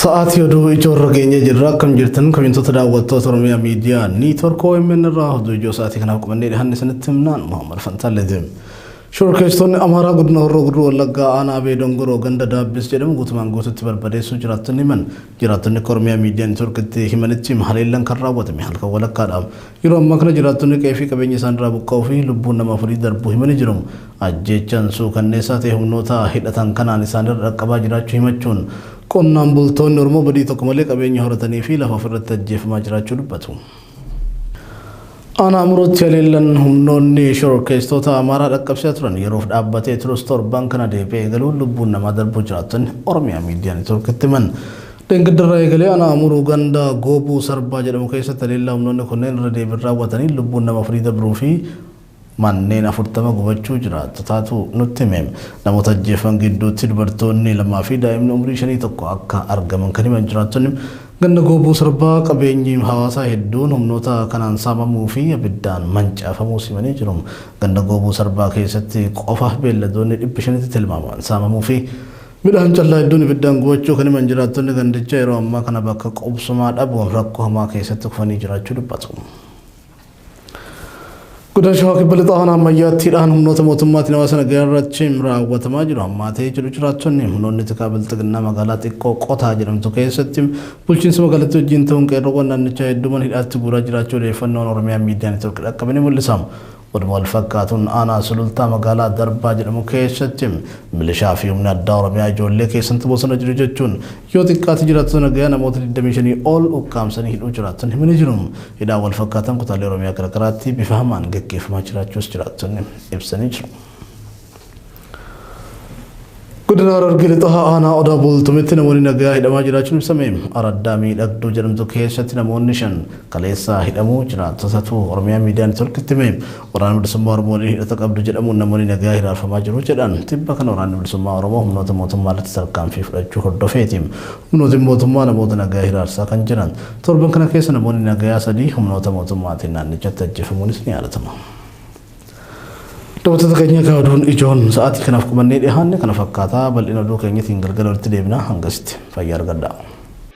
Sa'aatii oduu ijoorra geenyee jirra akkam jirtan kabintoota daawwattoota Oromiyaa miidiyaa niitwork OMN irraa oduu ijoo sa'aatii kanaaf qabannee dhihaanne isinitti himnaan Muhammad Fantaalleetiin. Shorkeessitoonni Amaaraa godina Horroo Guduruu Wallaggaa aanaa Abee Dongoroo ganda Daabbis jedhamu guutumaan guututti barbadeessuu jiraattonni himan. Jiraattonni akka Oromiyaa miidiyaa niitworkitti himanitti haleellan kan raawwatame halkan walakkaadha. Yeroo ammaa kana jiraattonni qe'ee fi qabeenya isaanirraa buqqa'uu fi lubbuun nama afurii darbuu himanii jiru. Ajjeechaan suukanneessaa ta'e humnoota hidhatan kanaan isaanirra dhaqqabaa jiraachuu himachuun, qonnaan bultoonni Oromoo badii tokko malee qabeenya horatanii fi lafa ofirratti ajjeefamaa jiraachuu dubbatu. Aanaa Amuruutti haleellan humnoonni shororkeessitoota Amaaraa dhaqqabsiisaa turan yeroof dhaabbatee turus torban kana deebi'ee eegaluun lubbuun namaa darbuu jiraattonni Oromiyaa Miidiyaa Networkitti himan. Dheengaddarraa eegalee Aanaa Amuruu ganda Goobuu Sarbaa jedhamu keessatti haleellaa humnoonni kunneen irra deebiin raawwataniin lubbuun nama afurii dabruu fi Manneen 40 gubachuu jiraattotaatu nutti hime. Namoota ajjeefaman gidduutti dubartoonni lamaa fi daa'imni umrii shanii tokko akka argaman kan himan jiraattonni, ganda Gooboo Sarbaa qabeenyi hawaasaa hedduun humnoota kanaan saamamuu fi abiddaan mancaafamuus himanii jiru. Ganda Gooboo Sarbaa keessatti qofa beelladoonni 500tti tilmaamaman saamamuu fi midhaan callaa hedduun ibiddaan gubachuu kan himan jiraattonni gandichaa yeroo ammaa kana bakka qubsumaa dhabuun rakkoo hamaa keessatti kufanii jiraachuu dubbatu. Godina Shawaa Kibba Lixaa Aanaa Ammayyaattiidhaan humnoota mootummaatiin hawaasa nagaa irratti raawwatamaa jiru. Hammaatee jiru jiraattonni humnoonni tikaa bilxiginnaa magaalaa xiqqoo qotaa jedhamtu keessatti bulchiinsa magaalattii wajjin ta'uun qeerroowwan naannichaa hedduuman hidhaatti guuraa jiraachuu odeeffannoon Oromiyaa miidiyaa neetwoorkii dhaqqabe ni mul'isa. Oduma wal fakkaatuun aanaa sulultaa magaalaa darbaa jedhamu keessatti milishaa fi humni addaa Oromiyaa ijoollee keessantu bosona jiru jechuun Yoo xiqqaate jiraattota nagayaa namoota 25 ol ukkaamsanii hidhuu jiraattonni himanii jiru. Hidhaan wal fakkaataan kutaalee Oromiyaa garagaraatti bifa hamaan gaggeeffamaa jiraachuus jiraattonni ibsanii jiru. Godina Harargee Lixaa aanaa Odaa Bultumitti namoonni nagayaa hidhamaa jiraachuun ibsame. Araddaa miidhagduu jedhamtu keessatti namoonni shan kaleessaa hidhamuu jiraattotatu Oromiyaa Miidiyaa Neetworkitti hime. Waraana Bilisummaa Oromoo waliin hidhata qabdu jedhamuun namoonni nagayaa hiraarfamaa jiru jedhan. Tibba kana Waraanni Bilisummaa Oromoo humnoota mootummaa irratti tarkaanfii fudhachuu hordofeeti. Humnootiin mootummaa namoota nagayaa hiraarsaa kan jiran. Torban kana keessa namoonni nagayaa sadii humnoota mootummaatiin naannichatti ajjeefamuunis ni yaadatama. Daawwattoota keenya egaa oduun ijoon sa'aatii kanaaf qabannee dhiyaanne kana fakkaata. Bal'ina oduu keenyatiin galgala walitti deebina. Hangasitti fayyaa argadhaa.